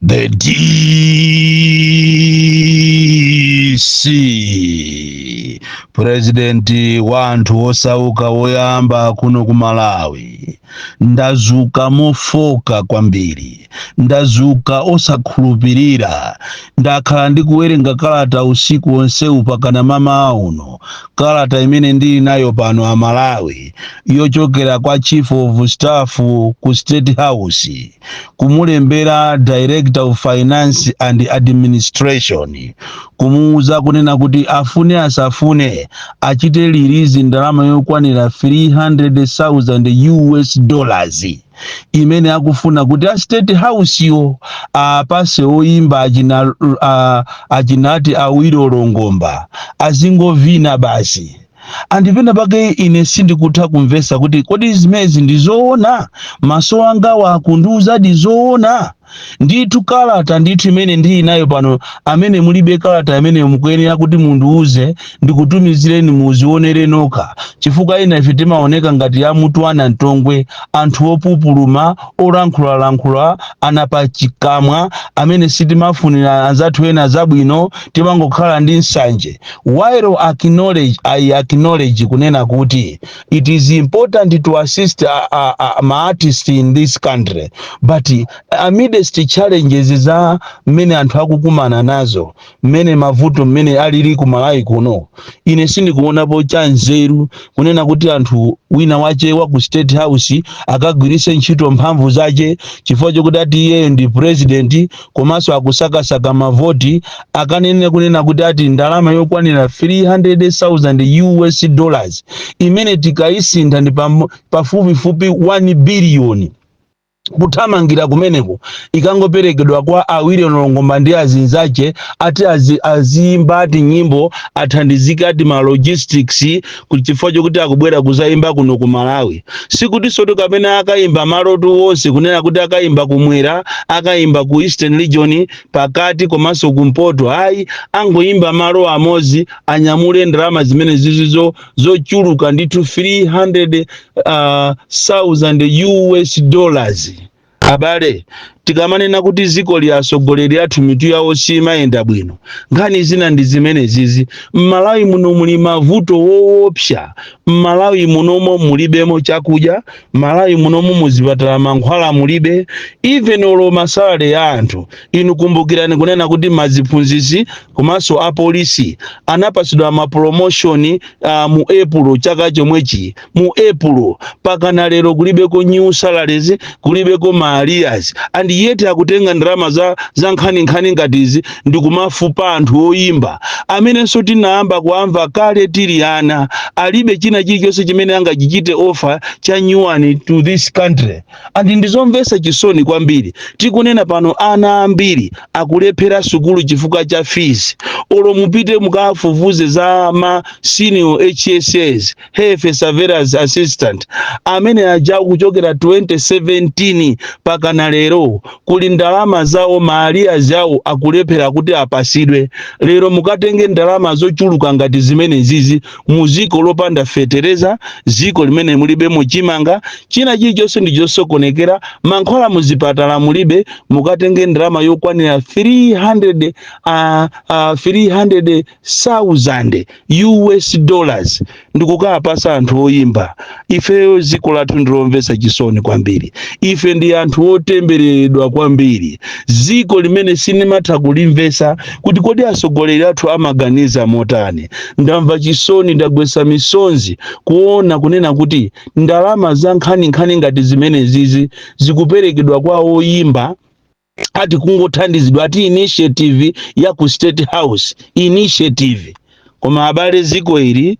The DC purezidenti wa anthu wosauka woyamba kuno ku Malawi ndazuka mofoka kwambiri ndazuka osakhulupirira ndakhala ndikuwerenga kalata usiku wonsewu pakana mmawa uno Kalata imene ndili nayo pano a Malawi yochokera kwa Chief of Staff ku State House kumulembera Director of Finance and Administration kumuuza kunena kuti afune asafune achite release ndalama yokwanira 300,000 US dollars imene akufuna kuti a state house yo apase oyimba achina a- achinati Awilo Longomba azingovina basi and penapake ine sindikutha kumvesa kuti kodi zimezi ndi zoona maso angawa akundiuzadi zoona ndithu kalata ndithu imene ndili nayo pano amene mulibe kalata imeneyo mukuyenera kuti mundiuze ndikutumizireni muzionere nokha chifukwa ena ife timaoneka ngati a Yamutu ana mtongwe anthu opupuluma olankhulalankhula anapachikamwa amene sitimafunira anzathu ena zabwino timangokhala ndi nsanje while acknowledge, I acknowledge kunena kuti it is important to assist a, a, a, ma artist in this country but amidst challenges za mmene anthu akukumana nazo mmene mavuto mmene alili ku malawi kuno ine sindikuonapo cha nzeru kunena kuti munthu wina wache wa ku state house akagwiritse ntchito mphamvu zache chifukwa chokuti ati iyeyo ndi president komanso akusakasaka mavoti akanene kunena kuti ati ndalama yokwanira 300,000 US dollars imene tikayisintha ndi pam- pafupifupi 1 biliyoni kuthamangira kumeneko ikangoperekedwa kwa Awilo Longomba ndi azinzache ati azi, aziyimba ati nyimbo athandizike ati ma logistics ku- chifukwa chokuti akubwera kuzayimba kuno ku malawi sikutinso kuti kapena akayimba malotu wonse kunena kuti akayimba kumwera akayimba ku eastern region pakati komanso kumpoto ayi angoyimba malo amodzi anyamule ndalama zimene zizizo zochuluka ndithu 300 uh, 1000 us dollars Abale, tikamanena kuti zikoli atsogoleri athu mitu yawo siimayenda bwino, nkhani zina ndi zimenezizi. M'Malawi muno muli mavuto woopsa. M'Malawi munomo mulibemo chakudya, m'Malawi munomo muzipatala mankhwala mulibe, even olo masalary ya anthu. Inu kumbukirani kunena kuti maziphunzitsi komanso apolisi anapatsidwa ma promotion uh, mu April chaka chomwechi mu April pakana lero kulibeko new salaries kulibeko ma arrears and yet akutenga ndalama za, za nkhaninkhani ngati izi ndikumafupa anthu oyimba amenenso tinayamba kuamva kale tili ana alibe china chilichonse chimene angachichite offer cha nyuwani to this country and ndizomvesa chisoni kwambiri tikunena pano ana ambiri akulephera sukulu chifukwa cha fees olo mupite mukafufuze za ma senior hss health surveillance assistant amene ajawa kuchokera 2017 pakana lero kuli ndalama zawo ma arrears awo akulephera kuti apasidwe lero mukatenge ndalama zochuluka ngati zimene zizi mu ziko lopanda fetereza ziko limene mulibemo chimanga china chilichonse ndichosokonekera mankhwala muzipatala mulibe mukatenge ndalama yokwanira 300 uh, uh, 300 sauzande us dollars ndikukawapatsa anthu oyimba ifeyo dziko lathu ndilomvetsa chisoni kwambiri ife ndi anthu otembereredwa kwambiri dziko limene sinimatha kulimvetsa kuti kodi atsogoleri athu amaganiza motani ndamva chisoni ndagwetsa misonzi kuona kunena kuti ndalama za nkhaninkhani ngati zimenezizi zikuperekedwa kwa oyimba ati kungothandizidwa ati initiative ya ku state house initiative koma abale ziko ili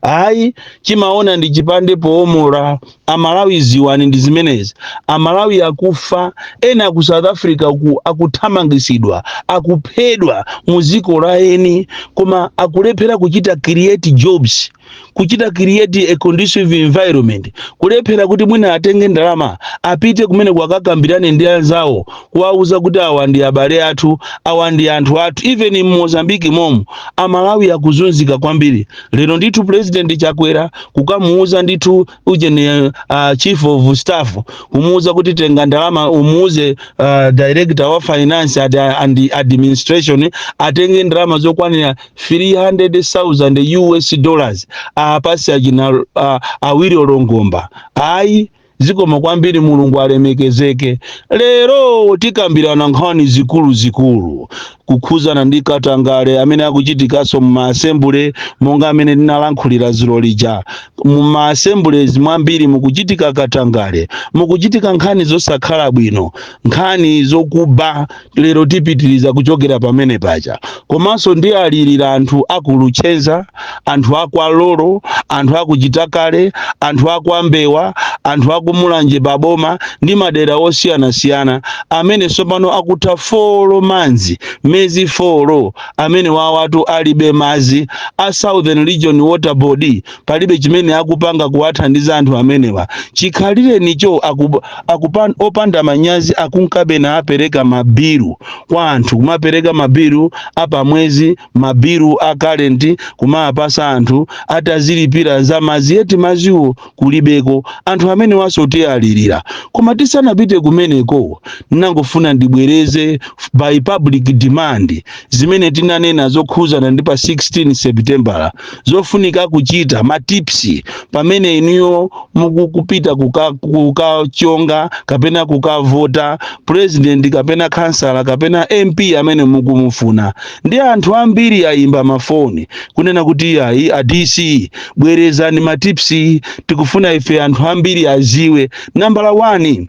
ayi tsoka chimaona ndi chipande poomora amalawi ziwani ndi zimenezi amalawi akufa ena ku south africa ku akuthamangisidwa akuphedwa mu ziko la eni koma akulephera kuchita create jobs kuchita create a conducive environment kulephera kuti mwina atenge ndalama apite kumeneko akakambirane ndi anzawo kuwauza kuti awa ndi abale athu awa ndi anthu athu even in Mozambique momo amalawi akuzunzika kwambiri lero ndithu president chakwera kukamuuza ndithu ujeni uh, chief of staff kumuuza kuti tenga ndalama umuuze uh, director wa finance ad, and administration atenge ndalama zokwanira 300,000 US dollars apase achina uh, Awilo Longomba ayi zikomo kwambiri mulungu alemekezeke lero tikambirana nkhani zikuluzikulu kukhuzana ndi katangale amene akuchitikanso mu ma assembly monga amene ndinalankhulira zulo lija mu ma assemblies mwambiri mukuchitika katangale mukuchitika nkhani zosakhala bwino nkhani zokuba lero tipitiriza kuchokera pamene paja komanso ndiwalirira anthu aku Luchenza anthu akwa lolo anthu aku Chitakale anthu akwa mbewa anthu aku Mulanje paboma ndi madera osiyanasiyana amene tsopano akutha four months miyezi four amenewawatu alibe mazi a southern region water board palibe chimene akupanga kuwathandiza anthu amenewa chikhalirenicho opanda manyazi akunkabe naapereka mabilu kwa anthu kumapereka mabilu apamwezi mabilu a current kumawapasa anthu ati azilipira za mazi yet maziwo kulibeko anthu amenewanso tiwalirira koma tisanapite kumeneko nangofuna ndibwereze by public demand zimene tinanena zokhuzana ndi pa 16 septembala zofunika kuchita ma tips pamene inuyo mukupita kukachonga kapena kukavota president kapena khansala kapena mp amene mukumufuna ndi anthu ambiri ayimba mafoni kunena kuti ayi a dc bwerezani ma tips tikufuna ife anthu ambiri aziwe nambala 1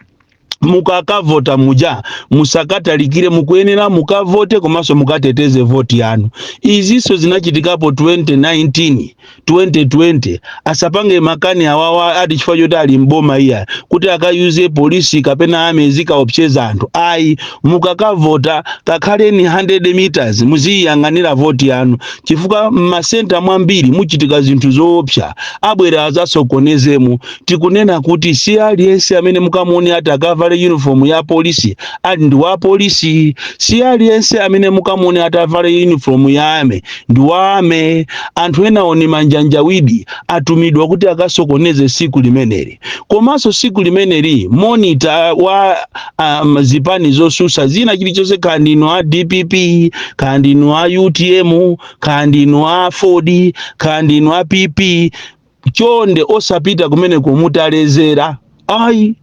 mukakavota muja musakatalikire mukuyenera mukavote komanso mukateteze voti yanu izinso zinachitikapo 2019 2020 asapange makani awawa ati chifukwa choti ali m'boma iya kuti akayuze polisi kapena army azikaopseza anthu ayi mukakavota kakhaleni 100 meters muziyang'anira voti yanu chifukwa m'masenta mwambiri muchitika zinthu zoopsa abwera azasokonezemo tikunena kuti si aliyense amene mukamuone ati akavale uniform ya polisi ali ndi wa polisi si aliyense amene mukamuone ati avale uniform ya army ndi wa army anthu enawo ni manjanjawidi atumidwa kuti akasokoneze siku limeneli komanso siku limeneli monita wa um, zipani zosusa zina chilichonse kaya ndinu a dpp kaya ndinu a utm kaya ndinu a aford kaya ndinu a pp chonde osapita kumeneko mutalezera ayi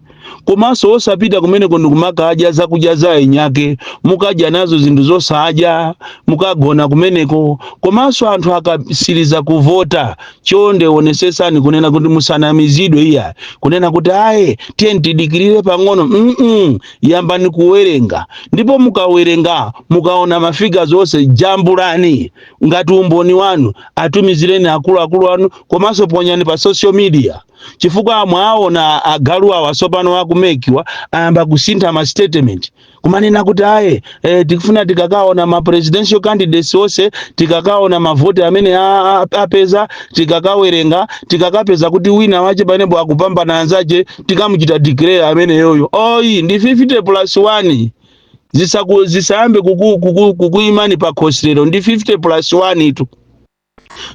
komanso osapita kumeneko ndikumakadya zakudya za enyake mukadya nazo zinthu zosadya mukagona kumeneko komanso anthu akasiriza kuvota chonde onesesani kunena kuti musanamizidwe iya kunena kuti aye tiyeni tidikirire pang'ono mm yambani kuwerenga ndipo mukawerenga mukaona ma figures onse jambulani ngati umboni wanu atumizireni akuluakulu anu komanso ponyani pa social media chifukwa mwaona agalu awa sopano aku mec awa ayamba kusintha ma statement kumanena kuti aye eh, tikufuna tikakaona ma presidential candidates onse tikakaona mavoti amene a- a- apeza tikakawerenga tikakapeza kuti wina wache panepo akupambana anzache tikamuchita declare ameneyoyo oyi ndi 50 plus 1 zisayambe kukuyimani pa khosi lero ndi 50 plus 1 itu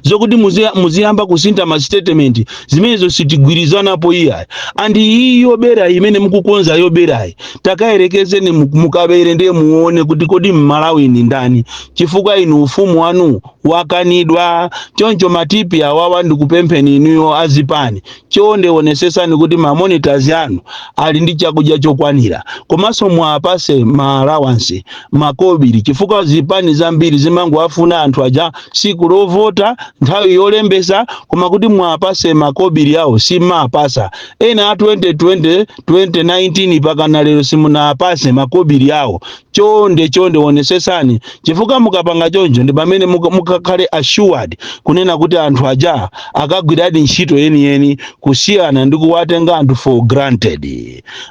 zokuti muziyamba kusintha ma statement zimenezo sitigwirizanapo iyayi and iyi yoberayi imene mukukonza yoberayi takayerekezeni mukabere ndiye muone kuti kodi mmalawi ndi ndani chifukwa inu ufumu wanu wakanidwa choncho matipi awawa ndikupempheni inuyo azipani Chonde onesetsani kuti ma monitors anu ali ndi chakudya chokwanira komanso muwapatse ma allowance, makobili, chifukwa zipani zambiri zimangowafuna anthu aja tsiku lovota, nthawi yolembetsa koma kuti muwapatse makobili awo sim'mawapatsa. Ena a 2020, 2019 pakana lero simunawapatse makobili awo chonde chonde wonesesani chifukwa mukapanga choncho ndi pamene mukakhale assured kunena kuti anthu aja akagwiradi ntchito yeniyeni kusiyana ndi kuwatenga anthu for granted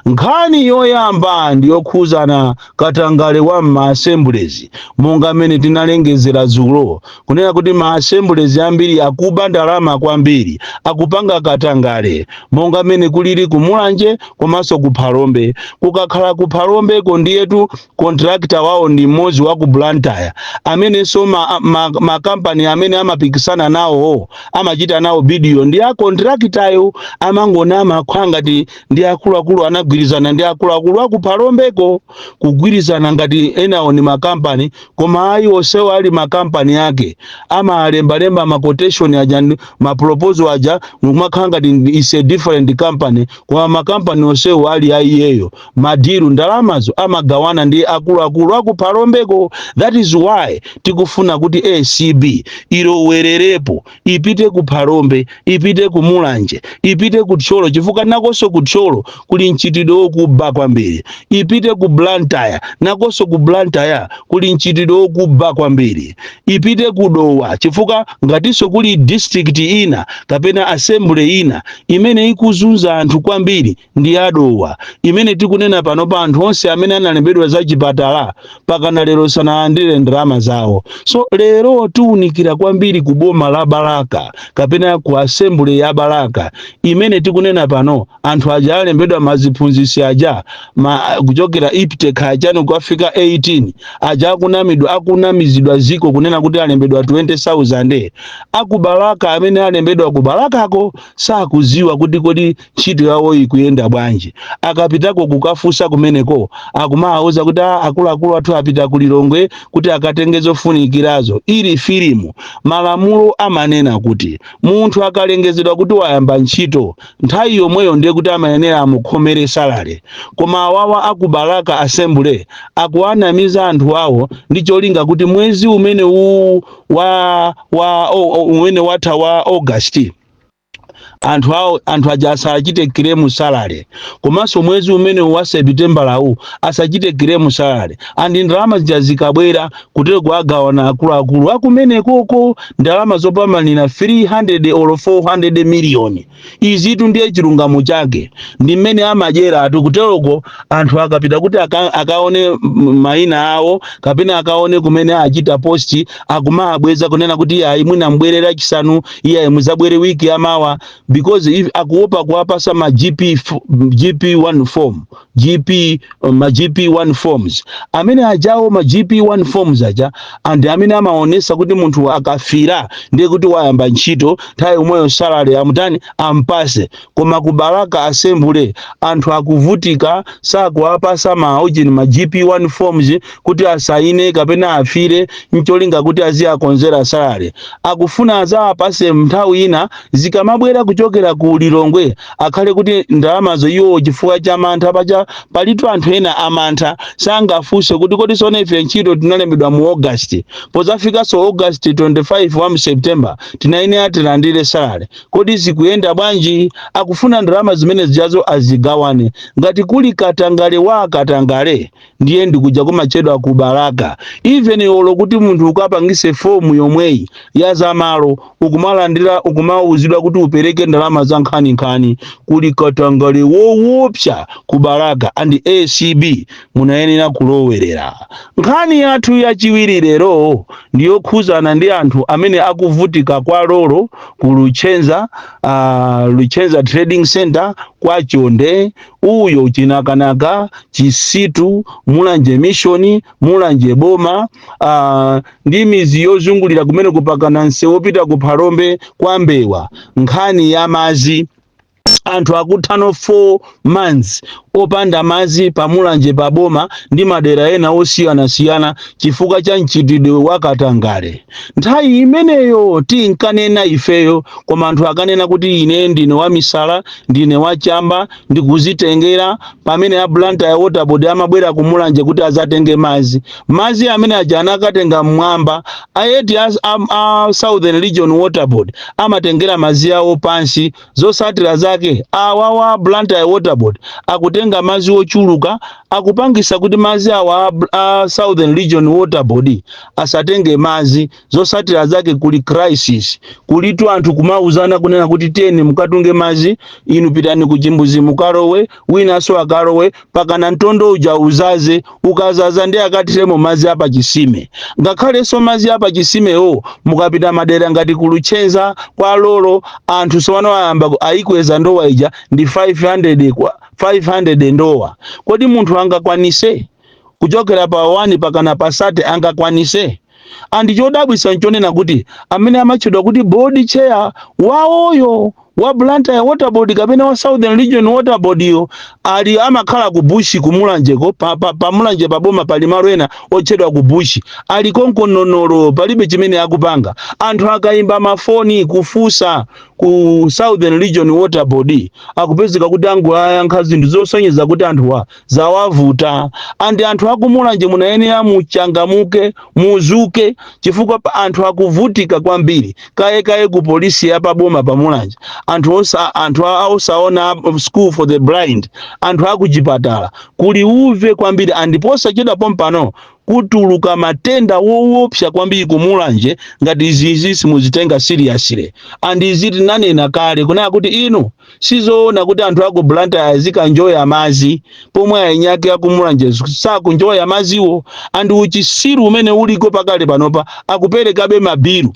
nkhani yoyamba ndi yokhuzana katangale wa m'maassemblies monga mmene tinalengezera dzulo kunena kuti ma assemblies ambiri akuba ndalama kwambiri akupanga katangale monga mmene kulili ku mulanje komanso ku phalombe kukakhala ku phalombeko ndiyetu contractor wawo ndi mmodzi wa ku blantyre amenenso makampani amene amapikisana nawo amachita nawo bidiyo ndi a contractayo amangonama amakhala ngati ndi akuluakulu anagwirizana ndi akuluakulu aku phalombeko kugwirizana ngati enawo ni makampani Koma ayi, onsewo ali makampani ake, amalembalemba ma quotation aja ma proposal aja nkumakhala ngati is a different company koma makampani onsewo ali a iyeyo. Ma deal ndalamazo amagawana ndi akuluakulu aku Phalombeko. That is why tikufuna kuti acb ilowererepo ipite ku phalombe ipite ku mulanje ipite ku thyolo chifukwa nakonso ku thyolo kuli mchitidwe wokuba kwambiri ipite ku blantyre nakonso ku blantyre kuli mchitidwe wokuba kwambiri ipite ku dowa chifukwa ngatinso kuli district ina kapena assembly ina imene ikuzunza anthu kwambiri ndi ya dowa imene tikunena pano pa anthu onse amene analembedwa za chipatala pakana lero sanalandire ndalama zawo so lero tiunikira kwambiri ku boma la balaka kapena ku assembly ya balaka imene tikunena pano anthu aja alembedwa maziphunzisi aja kuchokera IPTE kachani kukafika 18 aja akunamizidwa ziko kunena kuti alembedwa 20000 akubalaka amene alembedwa kubalakako sakuziwa kuti kodi ntchito yawo ikuyenda bwanji akapitako kukafunsa kumeneko akumawauza kuti "Ah, akuluakulu athu apita ku lilongwe kuti akatenge zofunikirazo ili filimu, malamulo amanena kuti munthu akalengezedwa kuti wayamba ntchito nthawi yomweyo ndiye kuti amayenera amukhomere salary koma awawa aku Balaka assembly akuwanamiza anthu awo ndi cholinga kuti mwezi umene uwu wa, wa o, o, umene watha wa august anthu awo anthu aja asachite claim salary komanso mwezi umene wa sepitembala uwu asachite claim salary and ndalama zija zikabwera kuteroko agawana akuluakulu akumenekoko ndalama zopamanira 300 or 400 miliyoni izitu ndiye chilungamo chake ndi mmene amadyera atu kuteroko anthu akapita kuti aka, akaone m- maina awo kapena akaone kumene achita posti akumawabweza kunena kuti iyayi mwina mubwere lachisanu iyayi muzabwere wiki yamawa because if akuopa kuwapasa ma gp f- gp 1 form gp uh, ma gp 1 forms amene ajawo ma gp 1 forms aja and amene amaonesa kuti munthu akafira ndiye kuti wayamba ntchito nthawi yomweyo salary amutani ampase koma ku balaka assembly anthu akuvutika sakuwapasa ma ujini ma gp1 forms kuti asaine kapena afire ncholinga kuti aziwakonzera salary akufuna azawapase nthawi ina zikamabwera kuchokera ku lilongwe akhale kuti ndalamazo iwo chifukwa cha mantha paja palitu anthu ena amantha sangafunse kuti kodi sono ife ntchito tinalembedwa mu august pozafikanso august 25 wa mu september tinayenera tilandire salary Kodi zikuyenda bwanji? Akufuna ndalama zimene zijazo azigawane. Ngati kuli katangale wa katangale ndiye ndi kuja kumatchedwa ku Balaka. Even olo kuti munthu ukapangise form yomweyi ya za malo ukumalandira ukumauzidwa kuti upereke ndalama za nkhaninkhani. Kuli katangale woopsa ku Balaka and acb munayenera kulowerera. Nkhani yathu yachiwiri lero ndi yokhuzana ndi anthu amene akuvutika kwa Lolo ku Luchenza, uh, Luchenza Trading Center kwa Chonde, uyo Chinakanaka, Chisitu, Mulanje Mission, Mulanje Boma, uh, ndi mizi yozungulira kumeneku mpakana mseu wopita ku Phalombe kwa Mbewa. Nkhani ya mazi anthu akutha no 4 months opanda mazi pa mulanje pa boma ndi madera ena osiyanasiyana chifukwa cha mchitidwe wa katangale nthawi imeneyo tinkanena ifeyo koma anthu ankanena kuti ine ndine wamisala ndine wachamba ndikuzitengera pamene a blantyre waterboard amabwera ku mulanje kuti azatenge mazi mazi amene aja anakatenga mmwamba yet a, a, a southern region waterboard amatengera mazi awo pansi Zosatira zake awawa Blantyre Water Board akutenga mazi ochuluka akupangisa kuti mazi awa a Southern Region Water Board asatenge mazi zosatira zake kuli crisis kulitu anthu kumauzana kunena kuti tengani mukatunge mazi inu pitani ku chimbuzi mukalowe winanso akalowe pakana mtondo uja uzaze ukazaza ndi akathiremo mazi apa chisime ngakhalenso mazi apa chisimewo mukapita madera ngati ku Luchenza kwa Lolo anthu sowano ayamba ku- aikweza ndowa ija ndi 500 kwa 500 ndowa kodi munthu angakwanise kuchokera pa 1 pakana pa 30 angakwanise and chodabwisa nchonena kuti amene amatchedwa kuti board chair wawoyo wa Blantyre Water Board kapena wa Southern Region Water Board yo ali amakhala ku Bushi ku Mulanje ko pa, pa, pa Mulanje pa boma pali malo ena otchedwa ku Bushi ali konko Nonono palibe chimene akupanga anthu akaimba mafoni kufusa ku Southern Region Water Board akupezeka kuti angoyankha zinthu zosonyeza kuti anthuwa zawavuta and anthu akumulanje munayenera muchangamuke muzuke chifukwa pa- anthu akuvutika kwambiri kaye kaye ku polisi ya paboma pa mulanje anthu osa anthu a- osaona um, school for the blind anthu akuchipatala kuli uve kwambiri and posachedwa pompano kutuluka matenda woopsa kwambiri kumulanje ngati izizi simuzitenga seriously and izi tinanena kale kunaya kuti inu sizoona kuti anthu aku Blantyre azikanjoya mazi pomwe aeniake akumulanje sakunjoya maziwo and uchisiru umene uliko pakale panopa akuperekabe mabilu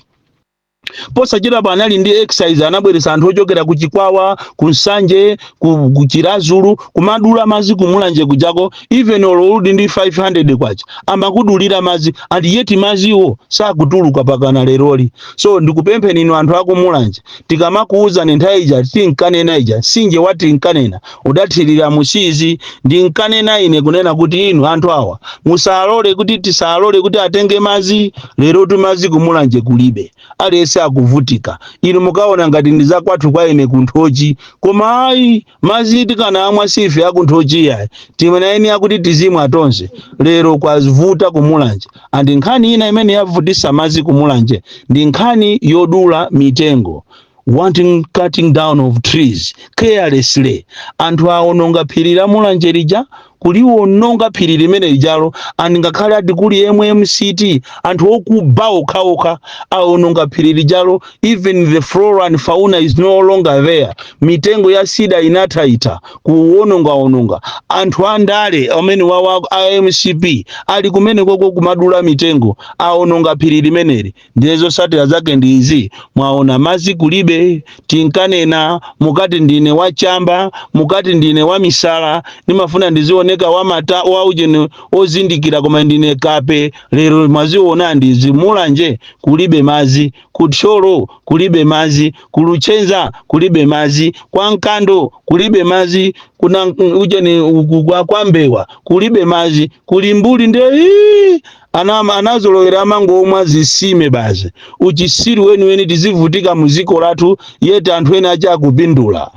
posachedwa panali ndi exercise anabweretsa anthu ochokera ku Chikwawa ku Nsanje ku, ku Chirazulu kumadula mazi kumulanje kujako even olo uli ndi 500 kwacha amakudulira mazi and yet maziwo sakutuluka pakana leroli so ndikupempheni inu anthu akumulanje tikamakuuzani nthawi ija tinkanena ija sinje watinkanena udathira musiizi ndinkanena ine kunena kuti inu anthu awa musalole kuti tisalole kuti atenge mazi lerotu mazi kumulanje kulibe aliyense akuvutika inu mukaona ngati ndi zakwathu kwa ine ku Nthochi koma ayi Mazi tikanamwa siife aku Nthochi yayi timenyereni nkuti tizimwa tonse lero kwavuta ku Mulanje and nkhani ina imene yavutisa mazi ku Mulanje ndi nkhani yodula mitengo wanton cutting down of trees carelessly anthu awononga phiri la Mulanje lija kuliwononga phiri limenelijalo and ngakhale ati kuli MMCT anthu okuba okhaokha awononga phiri lijalo even the flora and fauna is no longer there mitengo ya sida inathaitha kuwonongaononga anthu andale amenewawa a MCP ali kumenekoko kumadula mitengo awononga phiri limeneli ndizo zosatira zake ndi izi mwaona mazi kulibe tinkanena mukati ndine wachamba mukati ndine wamisala ndimafuna ndizioneka wasmati waujeni ozindikira koma ndine kape lero mwaziona ndi izi mulanje kulibe mazi kuthyolo kulibe mazi kuluchenza kulibe mazi kwa nkando kulibe mazi kuna ujeni kwa- kwa mbewa kulibe mazi kulimbuli nde ii, Ana ama- anazolowera amangomwa mzisime basi uchisiru weniweni tizivutika muziko lathu yet anthu ena ake akupindula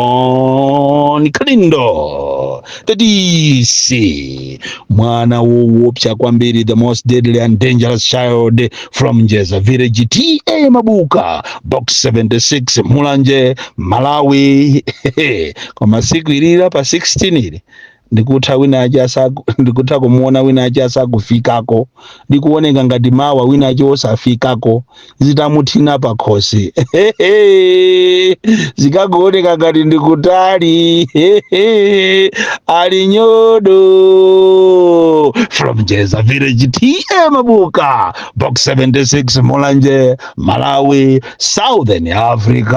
bon kalindo the dc mwana wowopsa kwambiri the most deadly and dangerous child from njeza village ta mabuka box 76 mulanje malawi koma siku ilira pa 16 ili ndikutha wina ache asaku ndikutha kumuona wina ache asakufikako ndikuoneka ngati mawa wina ache osafikako zitamuthina pakhosi zikakuoneka ngati ndikutali ali nyodo from njeza village ta mabuka box 76 mulanje malawi southern africa